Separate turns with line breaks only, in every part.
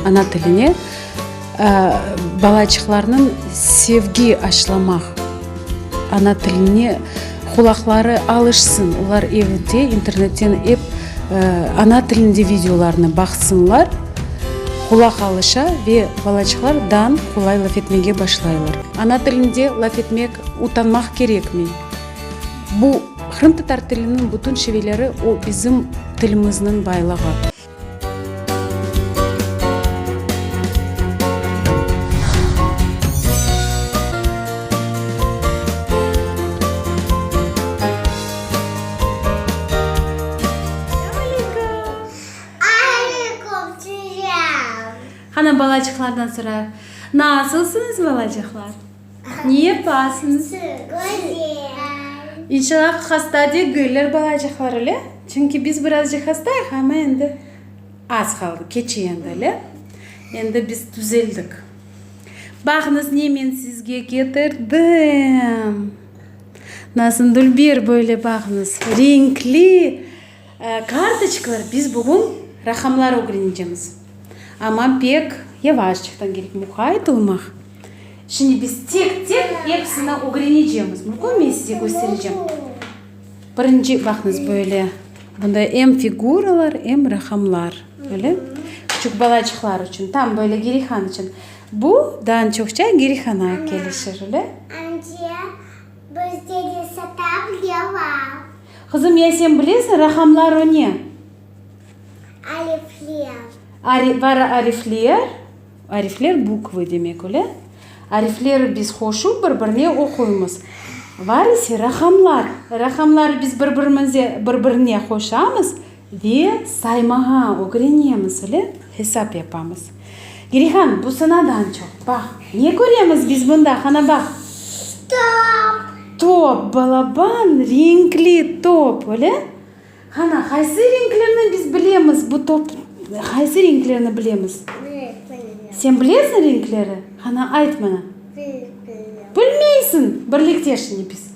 Ana tiline balaçıqlarnıñ sevgi aşılamaq, ana tiline qulaqları alışsın, olar evde internetten ep ana tilinde videolarnı baqsınlar, qulaq alışa ve balaçıqlar daa qolay laf etmege başlaylar. Ana tilinde laf etmek utanmaq kerekmi? Bu. Qırımtatar tiliniñ bütün şiveleri o bizim tilimizniñ baylığı. Qana balaçıqlardan sora. Nasılsıñız, balaçıqlar? Niye pastnı? Güzel. İnşallah hasta degiller balacıqlar, öyle? Çünki biz birazcıq hastayıq, amma endi az qaldı, keçi endi, öyle? Endi biz tüzeldik. Baqıñız, ne men sizge ketirdim. Nasındül bir böyle baqıñız, renkli. Kartoçkalar, biz bugün raqamlar ögrenecemiz. Amma pek yavaş çıqtan kerek, muqayet olmaq. Şimdi biz tek-tek episini ögrenecemiz. Mümkün, men size kösterecem. Birinci, baqıñız, böyle, bunda em figuralar, em raqamlar. Böyle, küçük balaçıqlar içün, tam böyle gerihan içün. Bu, daa çoqça gerihana kelişir, öyle. Ance, bizde de satav, levav. Qızım, ya sen bilesiñ raqamlar o ne? Arifler. Ari, var arifler. Arifler bukvı demek, öyle? Arifleri biz hoşu bir birine oquymız. Var ise raqamlar. Raqamları biz bir birimize, bir birine qoşamız. Ve saymağa ögrenemiz ile hesap yapamız. Girihan, bu sınadan çoq, baq, ne köremiz biz bunda, qana baq. Top. Top, balaban, renkli top, öyle? Qana, qaysı renklerni biz bilemiz, bu top, qaysı renklerni bilemiz? Bilmiyorum. Sen bilesiñ renkleri? Qana, ayt mana. Bilmiyorum. Bilmeysiñ, birlikte şimdi biz.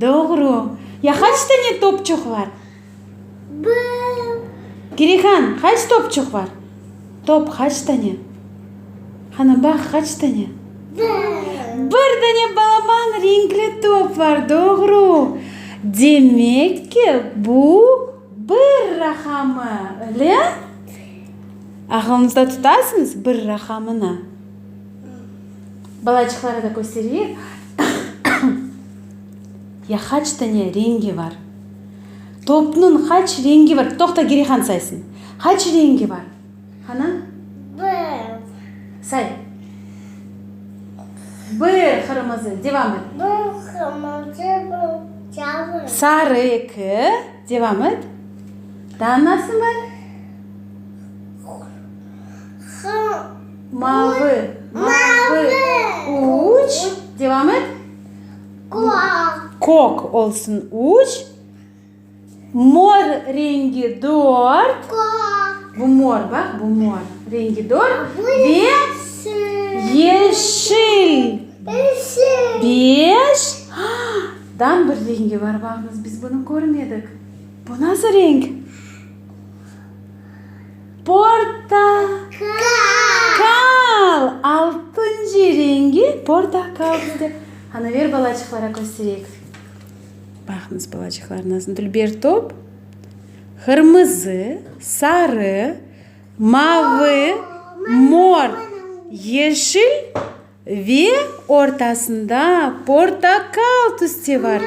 Doğru. Ya qaç tane topçuq var? Bir. Kirihan, qaç topçuq var? Top qaç tane? Qana baq, qaç tane? Bir. Bir tane balaban renkli top var, doğru. Demek ki, bu bir raqamı, öyle? Aqlınızda tutasıñız bir raqamını? Balaçıqları da köstereyik. Ya qaç tane rengi bar? Topnıñ qaç rengi bar? Toqta, Gerihan saysın. Qaç rengi bar? Qana? Bir. Say. Bir qırmızı. Devam et. Bir qırmızı, bir sarı. Sarı, eki. Devam et. Daa nasın bar? Mavi, mavi, üç, devam et. Kök olsun, üç. Mor rengi, dört. Bu mor, bak, bu mor rengi, dört. Ve yeşil, beş. Dan bir rengi var, baqıñız, biz bunı körmedik. Bu nasıl renk? Portakal! Altıncı rengi portakal bizde. Ana, ber balaçıqlara köstereyik. Baqıñız, balaçıqlar nasıl dülber top. Qırmızı, sarı, mavı, mor, yeşil. Ve ortasında portakal tüste bar.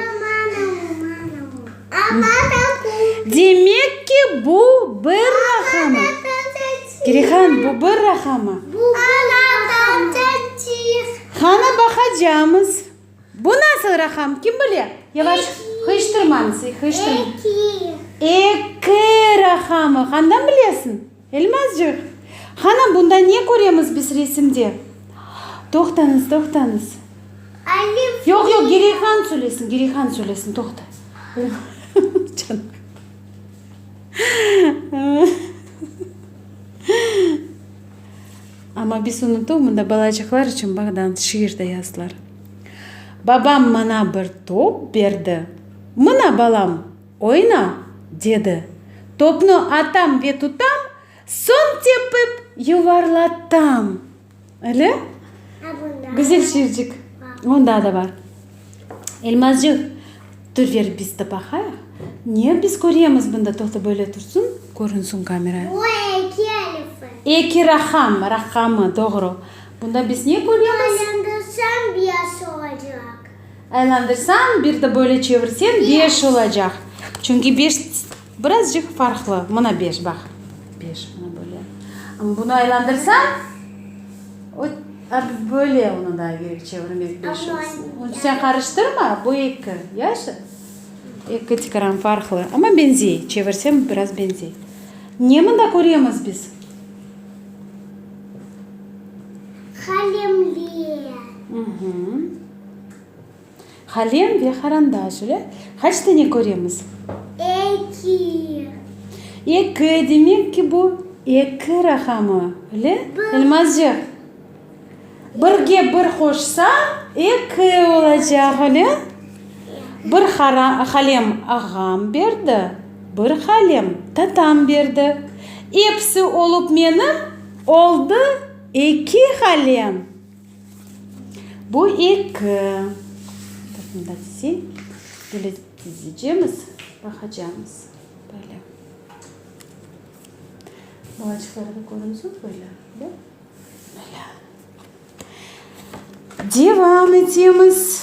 Demek ki, bu bir rahamı. Kerehan, bu bir rahamı. Qanı baqacamız. Bu nasıl raham, kim bile? Yavaş, hıyştırmañız, hıyştırmañız. Eki rahamı. Qandan bilesiñ? Elmazcıq! Hanım, bunda ne köremiz biz resimde? Toqtañız, toqtañız. Alif Yoq, yoq, Riya. Gireyhan söylesin, Gireyhan söylesin, toqta. Canım. Amma biz unutuv, mında balacıqlar içün bağdan şiir de yazdılar. Babam maña bir top berdi. Mına, balam! Oyna, dedi. Topnı atam ve tutam, soñ tepip yuvarlatam. Öyle? Güzel şiircik. Onı daa da bar. Elmazcıq, tur ver biz de baqayıq. Ne biz köremiz bunda? Toqta böyle tursın, körünsün kamera. Bu eki elifi. Eki raqam, raqamı, doğru. Bunda biz ne köremiz? Aylandırsam, bes olacaq. Aylandırsañ, bir de böyle çevirseñ, beş olacaq. Çünki beş birazcıq farqlı. Mına beş, baq. Beş, mına böyle. Am bunu aylandırsañ, o, a, böyle onı da gerek çevirmek, beş olsun. Amma. Sen qarıştırma, bu eki, yaşı? Eki tikran farqlı. Amma benzey, çevirseñ, biraz benzey. Ne mında köremiz biz? Qalemler. Mhmm. Halem ve harandaş öyle. Qaç tane köremiz? Eki. Eki, demek ki, bu eki raqamı, öyle? Bir. Elmazcıq. Birge bir qoşsañ, eki olacaq, öyle? Bir halem ağam berdi, bir halem tatam berdi. Episi olup menim oldı eki halem. Bu eki, böyle dizeceğimiz, baqacağımız, böyle. Balaçıqları da körüyorsunuz, böyle, da? Böyle. Devam etemiz.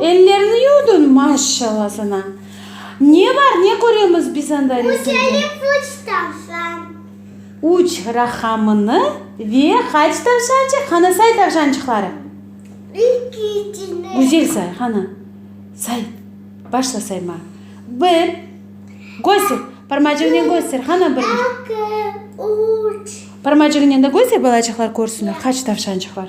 Ellerini yuvdun, maşşalla sana. Ne bar, ne köremiz biz anda resimde? Üç rahamını ve qaç tavşançıq? Qana, say tavşançıqları. Güzel say, qana. Say, başla sayma. Bir, göster, parmacığınen göster, qana, bir. Parmacığınen de göster, balacıqlar körsünler, qaç tavşançıq bar.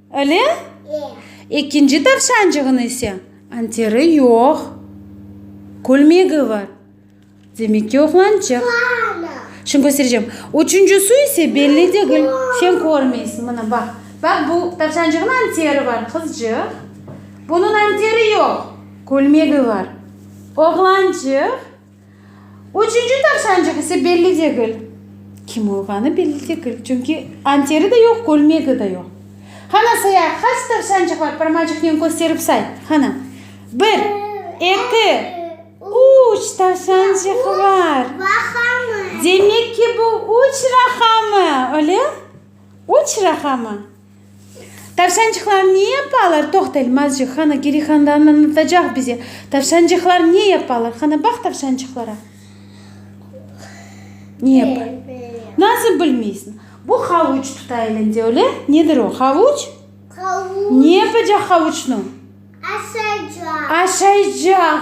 Ele? Ekinci tavşancığın ise anteri yoq, külmegi bar. Demek ki, oğlançıq. Şimdi köstereceğim. Üçüncüsü ise belli degil. Sen körmeysiñ, mına baq. Baq, bu tavşancığın anteri bar, qızcıq. Bunıñ anteri yoq, külmegi bar. Oğlançıq. Üçünci tavşancıq ise belli degil. Kim olğanı belli degil, çünki anteri de yoq, kölmegi de yoq. Qana say-a, qaç tavşancıqlar parmacıqnen kösterip say, qana. Bir, eki, üç tavşancıq bar. Demek ki, bu üç raqamı, öyle? Üç raqamı. Tavşancıqlar ne yapalar? Toq telmazcı, hanı Geri Handan anlatacaq bize. Tavşancıqlar ne yapalar? Hanı baq tavşancıqlara. Ne yapalar? Nasıl bilmeysiñ? Bu havuç tuta elinde, öyle? Nedir o? Havuç? Ne yapacaq havuçnı? Aşaycaq. Aşaycaq.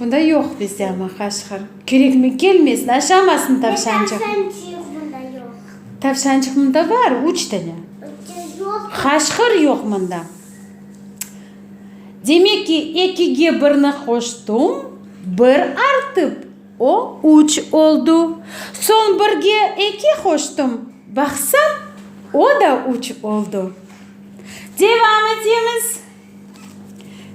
Bunda yoq bizde ama qaşqır. Kerekmi kelmesin, aşamasın tavşancıq. Ne tavşancıq bunda yoq? Tavşancıq bunda bar, üç dene. Qaşqır yoq bunda. Demek ki, ekige birni qoştum, bir artıp, o üç oldu. Soñ birge eki qoştum, baqsam, o da üç oldu. Devam etemiz.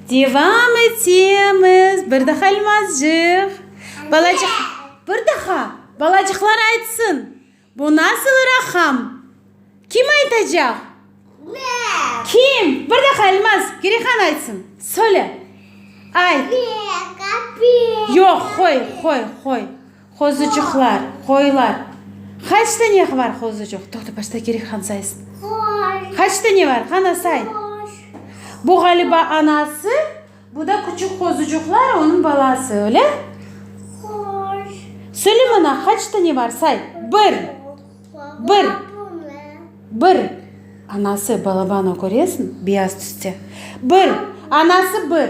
Devam etemiz. Bir daha Elmazcıq. Balacıq. Bir daha. Balacıqlar aytsın. Bu nasıl raqam? Kim aytacaq? Ben. Kim? Bir daha Elmaz. Girehan aytsın. Söyle. Ayt. Beka, beka. Yoq, qoy, qoy, qoy. Qozuçuqlar, qoylar. Qaç tane var qozuçuq? Toqta, başta kerek han saysın. Qoy. Qaç tane var? Qana say. Qoş. Bu ğaliba anası, bu da küçük qozuçuqlar, onıñ balası, öyle? Qoş. Söyle mana, qaç tane var? Say. Bir. Bir. Bir. Anası, balabano, köresiñ? Beyaz tüste. Bir. Anası, bir.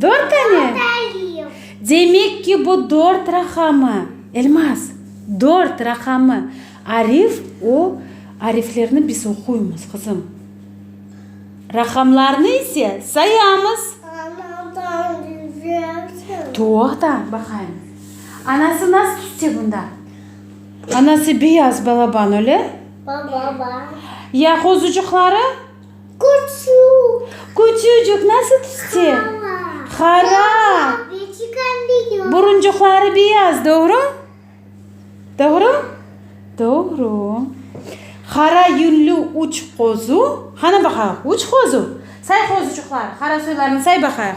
Dört tane? Demek ki, bu dört raqamı. Elmaz, dört raqamı. Arif, o ariflerni biz oquymız, qızım. Raqamlarnı ise sayamız. Anadan düzelti. Toqta, baqayım. Anası nasıl tütse bunda? Anası beyaz balaban, öyle? Balaban. Ya qozucuqları? Küçük. Küçücük, nasıl tüste? Hara. Hara. Beçikan beyaz. Buruncuqları beyaz, doğru? Doğru? Doğru. Hara yünlü üç qozu. Qana baqayıq, üç qozu. Say qozuçıqlar, hara soylarını say baqayıq.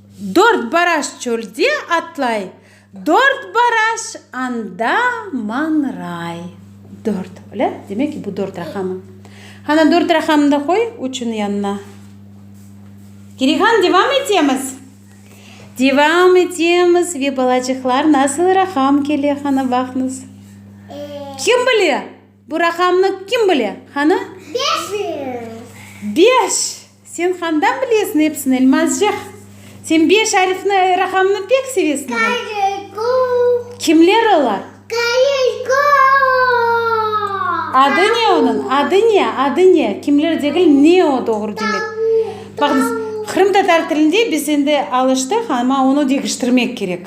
Dört baraş çölde atlay. Dört baraş anda mañray. Dört, öyle? Demek ki, bu dört raqamı. Qana, dört raqamını da qoy üçniñ yanına. Kirihan, devam etemiz? Devam etemiz. Ve balacıqlar, nasıl raqam kele, qana, baqıñız. Kim bile? Bu raqamnı kim bile, hanı? Beş yüz! Beş! Sen handan bilesiñ episini, Elmazcıq? Sen beş arifni, raqamnı pek sevesiñ oğul. Kayırgo! Kimler olar? Kayırgo! Adı ne onıñ? Adı ne? Adı ne? Kimler degil, ne o doğru demek. Tavuk! Baqıñız, qırımtatar tilinde biz endi alıştıq, amma onı degiştirmek kerek.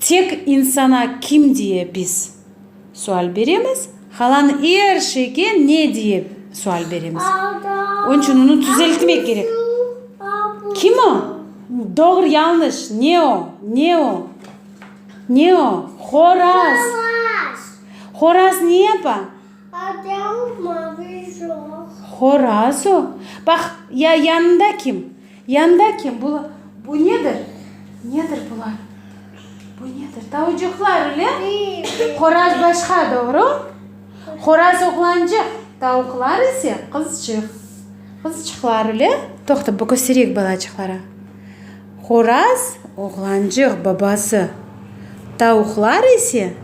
Tek insana kim diye biz? sual beremiz. Qalan er şeyge ne diye sual beremiz. Onıñ içün onı tüzeltmek kerek. Kim o? Doğru, yañlış. Ne o? Ne o? Ne o? Horaz. Horaz ne yapa? Horaz o. Baq, ya yanında kim? Yanda kim? Bu, bu nedir? Nedir bular? Bu nedir? Tavucuqlar, öyle? Qoraz başqa, doğru? Qoraz oğlancıq, tavuqlar ise qızcıq. Qızcıqlar, öyle? Toqta, bu köstereyik balacıqlara. Qoraz, oğlancıq, babası. Tavuqlar ise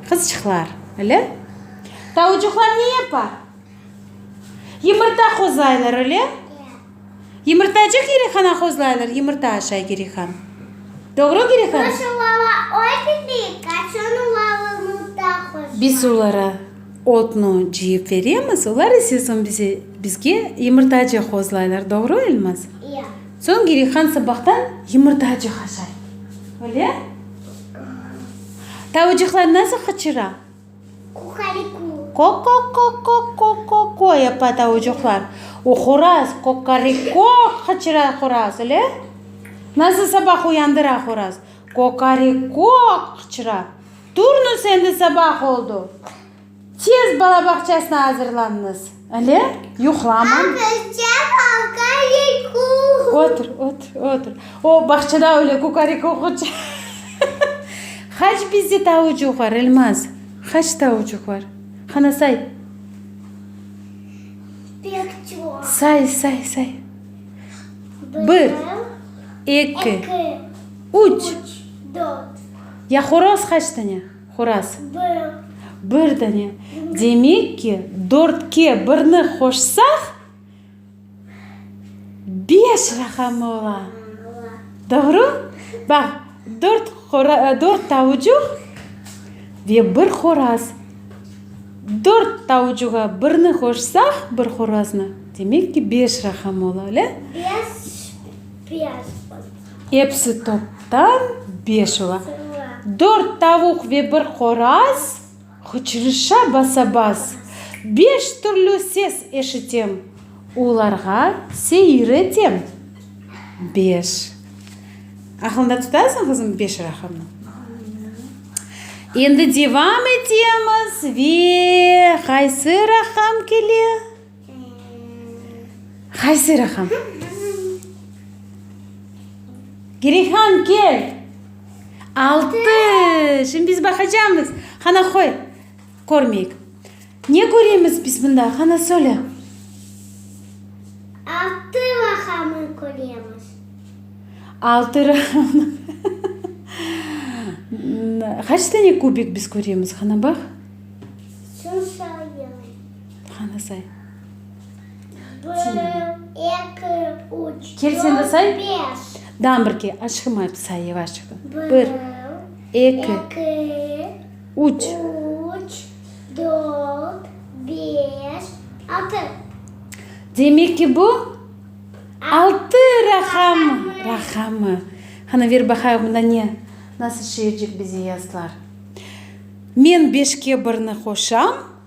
qızcıqlar, öyle? Tavucuqlar ne yapa? Yımırta qozlaylar, öyle? Ya. Yımırtacıq Girihana qozlaylar, yımırta aşay Girihan. Doğru, Girihan? Kaç ulala otni, kaç on ulala yımırta qozlaylar. Biz olara otnu cıyıp beremiz, olar ise soñ bize, bizge yımırtacıq qozlaylar. Doğru, Elmaz? Ya. Soñ Girihan sabahtan yımırtacıq aşay, öyle? Tavucıqlar nasıl qıçıra? Qukariku. Qo-qo-qo-qo-qo-qo-qo, yapa tavucuqlar. O horaz, qoqariko, qıçıra horaz, ele? Nasıl sabah uyandıra horaz? Qoqariko, qıçıra. Turnus, endi sabah oldu. Tez bala bağçasına azırlanıñız. Ele yuqlama. Otur, otur, otur. O, bağçada öyle kukarik oquca. Qaç bizde tavucuq bar, Elmaz? Qaç tavucuq bar? Qana say. Say, say, say. Bir, eki, üç. Ya horoz qaç tane? Horaz, Bir dane. Demek ki, dörtke birni qoşsaq, beş raqamı ola. Doğru? Baq, dört dört tavucuq ve bir horaz. Dört tavucuğa birni qoşsaq, bir horaznı, demek ki, beş raqamı ola, öyle? Beş, beş oldu. Episi toptan beş ola. Dört tavuq ve bir qoraz hıçrışa basa-bas, beş türlü ses eşitem, olarğa seyir etem. Beş. Aqlında tutasıñ, qızım, beş raqamnı? Endi devam etemiz ve qaysı raqam kele? Qaysı raqam? Gireyhan, kel! Altı! Şimdi biz baqacamız. Qana, qoy, körmeyik. Ne köremiz biz bunda? Qana, söyle. Altı raqamını köremiz. Altı raqamını. Qaç tane kubik biz köremiz? Qana, baq. Qani say. Bir, eki, üç, dört, beş. Dam birge, aşqım ayıp say yevaşça. Bir, eki, üç, dört, beş, altı. Demek ki bu altı raqamı. Raqamı. Qani ver baqayıq bunda ne, nasıl şiircik bize yazdılar. Men beşke birni qoşam.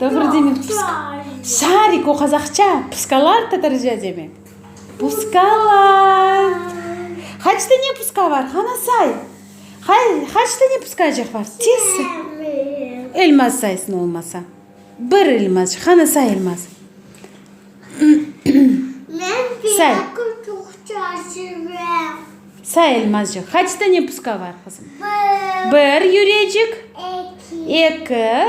Doğru demek pıska. Şarik, o qazaqça, pıskalar tatarca demek. Pıskalar. Qaç tane pıska bar? Qana say. Qaç tane pıskacıq bar? Tez say. Elmaz saysın olmasa. Bir elmaz. Qana say elmaz. Say. Say elmazcıq. Qaç tane pıska bar qızım? Bir. Bir yürecik. Eki. Eki.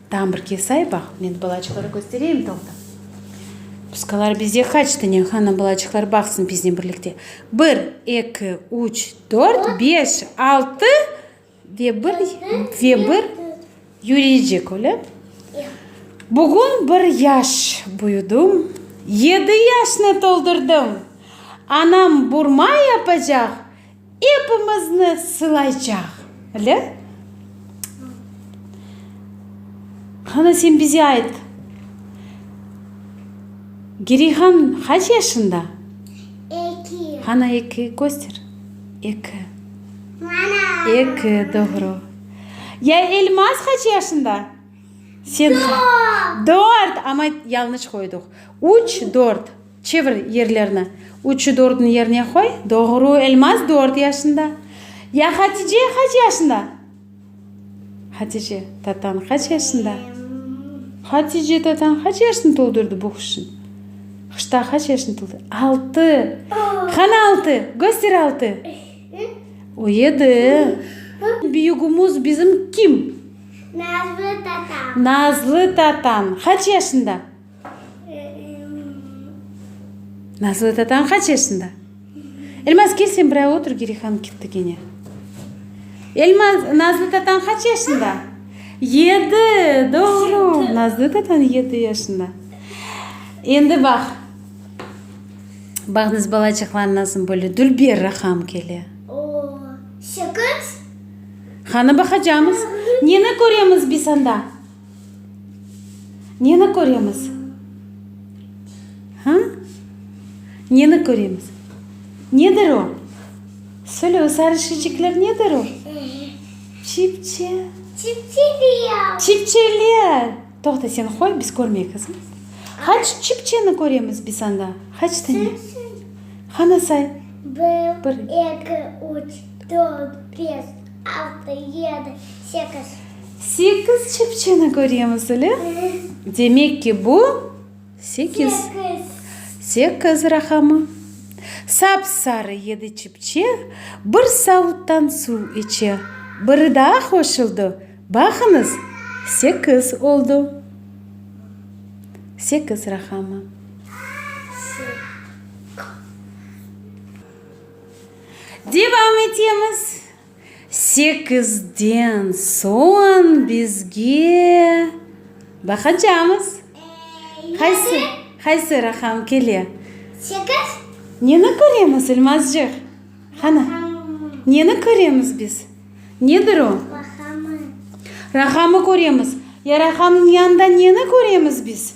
Tam bir kesay, baq, men balaçıqları köstereyim toqta. Puskalar bizde qaç tane? Qana, balaçıqlar baqsın biznen birlikte. Bir, eki, üç, dört, beş, altı ve bir, ve bir yüriycik, öyle? Bugün bir yaş büyüdim, yedi yaşnı toldurdım. Anam burma yapacaq. Epimizni sılaycaq, le? Qana, sen bize ayt, Gerihan qaç yaşında? Eki. Qana, eki köster. Eki. Mana. Eki, doğru. Ya Elmaz qaç yaşında? Sen. Dört. Dört, amma yalnış qoyduq. Üç, dört. Çevir yerlerni. Üçü dördüni yerine qoy. Doğru, Elmaz dört yaşında. Ya Hatice qaç yaşında? Hatice tatañ qaç yaşında? Hatice tatañ qaç yaşını toldurdı bu qışın? Qışta qaç yaşını toldu? Altı. Qana altı? Göster altı. O yedi. Büyügimiz bizim kim? Nazlı tatañ. Nazlı tatañ qaç yaşında? Nazlı tatañ qaç yaşında? Elmaz, kel sen bire otur, Geriy han ketti kene. Elmaz, Nazlı tatañ qaç yaşında? Yedi, doğru, Nazlı tatañ yedi yaşında. Endi baq, bağnız balacıqlar nasıl böyle dülber raqam kele. Sekiz. Qanı baqacamız. Neni köremiz biz anda? Neni köremiz? Ha? Neni köremiz? Nedir o? Söyle, o sarı şişecikler nedir o? Çipçe. Çipçeler. Çipçeler. Toqta, sen qoy, biz körmey, qızım. Haç çipçeni köremiz biz anda? Haç tane? Qana say. Bir, eki, üç, dört, beş. Altı, yedi, sekiz. Sekiz çepçeni köremiz, ele? Demek ki, bu sekiz. Sekiz. Sekiz raqamı. Sap-sarı yedi çepçe bir savuttan suv içe. Biri daa qoşuldı. Baqıñız, sekiz oldu. Sekiz raqamı. Sekiz. Devam etemiz. Sekizden soñ bizge baqacamız. Qaysı, qaysı raqam kele? Sekiz. Neni köremiz, İlmazcıq? Qana, neni köremiz biz? Nedir o? Raqamı. Raqamı köremiz. Ya raqamnıñ yanında neni köremiz biz?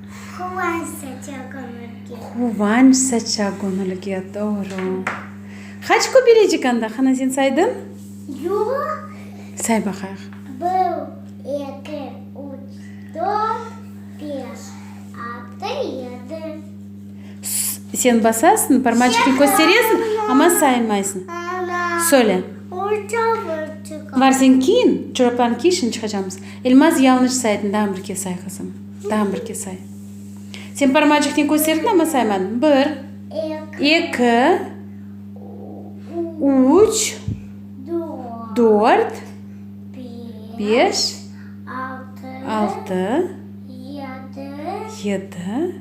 Quvanç saça göñülge. Quvanç saça göñülge, doğru. Qaç köpelecik anda, Hanazin, saydıñ? Yoq. Say baqayıq. Bir, eki, üç, dört, beş, altı, yedi. Sen basasıñ, parmaçıqnı kösteresiñ, amma saymaysıñ. Ana. Söyle. Orta burçuqa. Var, sen kiyin, çoraplarnı kiy, şimdi çıqacamız. İlmaz, yalnış saydıñ, dağım bir kez say, qızım. Tam bir ke say. Sen parmacıqnen kösterdiñ, amma saymadıñ. Bir, eki, üç, dört, beş, altı, yedi,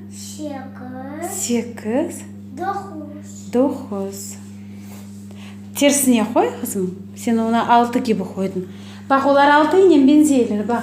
sekiz, doquz. Tersine qoy, qızım. Sen onı altı kibi qoydıñ. Baq, olar altınen beñzeyler, baq.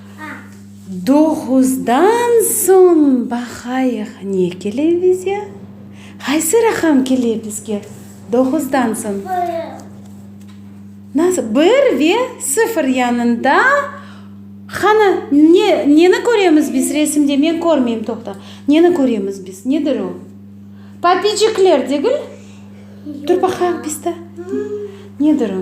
Doğuzdan soñ baqayıq ne kele bize. Qaysı raqam kele bizge doğuzdan soñ? Nasıl? Bir ve sıfır yanında. Qani, ne, neni köremiz biz resimde? Men körmeyim, toqta. Neni köremiz biz? Nedir o? Papicikler degil? Tur baqayıq biz de. Nedir o?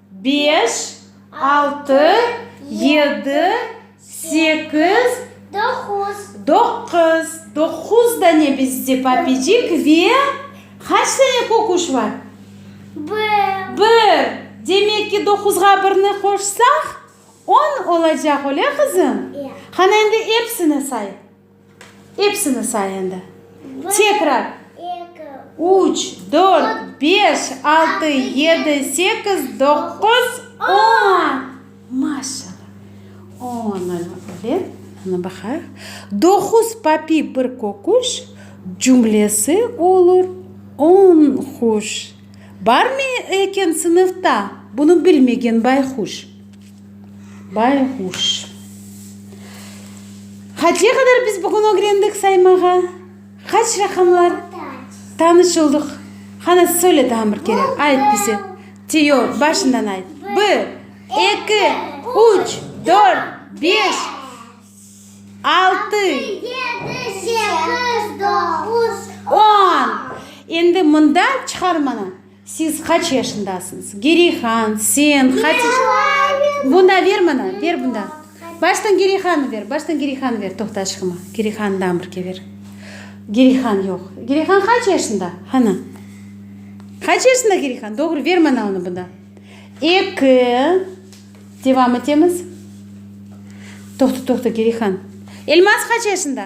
Beş, altı, yedi, sekiz, doquz. Doquz. Doquz dane bizde papicik ve qaç dane köküş bar? Bir. Bir. Demek ki, doquzğa birni qoşsaq, on olacaq, öyle qızım? Ya. Qana, endi epsini say. Epsini say endi. Tekrar. Üç, dört, beş, altı, yedi, sekiz, doquz, on. Maşallah. On olma bilen, ana baqayıq, doquz papi bir köküş cümlesi olur. On quş. Barmı eken sınıfta bunı bilmegen bayquş? Bayğuş. Qaçe qadar biz bugün ögrendik saymağa? Qaç raqamlar? Tanış oldıq. Qana, söyle tağın bir kere, ayt bize. Te, yoq, başından ayt. Bir, eki, üç, dört, beş, altı, on. Endi mında çıqarmanı. Siz qaç yaşındasıñız? Gereyhan, sen, Hatice. Merhaba. Bunda ver mana, ver bunda. Baştan Gereyhannı ver, baştan Gereyhannı ver, toqta aşqıma. Gereyhannıdan bir ke ver. Gereyhan yoq. Gereyhan qaç yaşında? Hanı? Qaç yaşında Gereyhan? Doğru, ver mana onı bunda. Eki. Devam etemiz. Toqta, toqta, Gereyhan. Elmaz qaç yaşında?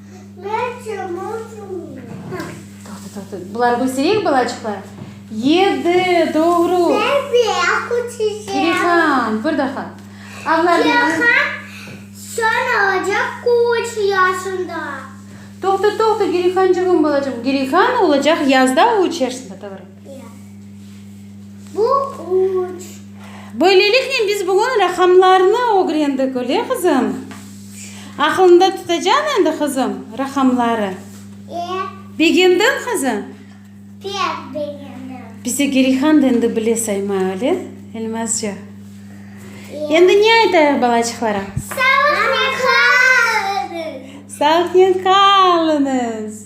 Buları köstereyik balaçıqlar? Yedi, doğru. Kirihan, bir daha. Toqta, toqta, Kirihancığım, balacığım. Kirihan olacaq yazda üç yaşında, doğru. Böyleliknen biz bugün raqamlarnı ögrendik, öyle qızım? Aqlında tutacañ endi, qızım, raqamları? Begendiñ, qızım? Bize Gerihan da endi bile saymay, öyle, Elmazca? Endi ne aytayıq balaçıqlara? Sağnen qalıñız!